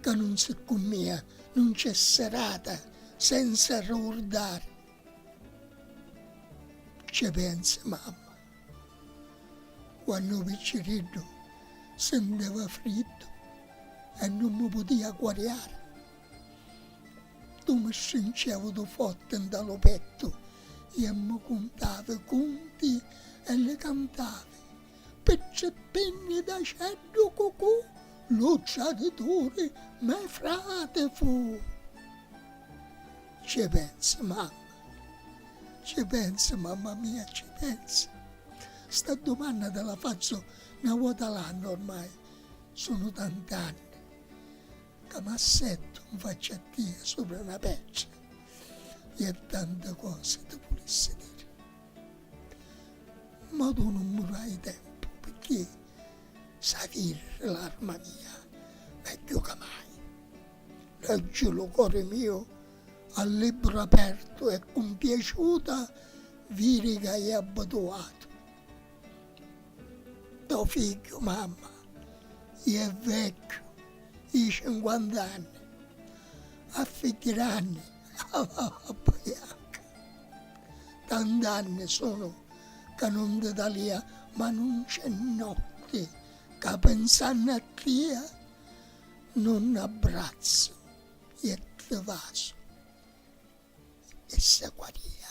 ca nun si ccu mia nun c'è serata senza rrugurdari cce pensi mamma quannu picciriddu senteva friddu e nun mi putia guariari tu mi strincevi du fotti nta lu pettu e mi cuntavi cunti e li cantavi Pizzippinni d'aceddu cucù, lu tradituri me frati fu. Ci pensi, mamma, ci pensi, mamma mia, ci pensi? Sta dumanna ti la fazzu 'na vota l'annu ormai, sunu tant'anni ca m'assettu 'nfacci a tia supra 'na pettra e tanti cosi ti vulissi diri. Ma tu nun mi fai tempu picchì s'avirri l'arma mia megghiu ca mai. Leggi lu cori miu a libbru apertu e cu mpiaciuta viri ca è abbituatu. To figghiu, mamma, iè vecchiu i cinquant'anni, a figghiranni a la barba janca. Tant'anni sunu ca nun ti talia ma nun c'è notti ca pensannu a tia nun n'abbrazzu i e ti vasu e ssa qualia.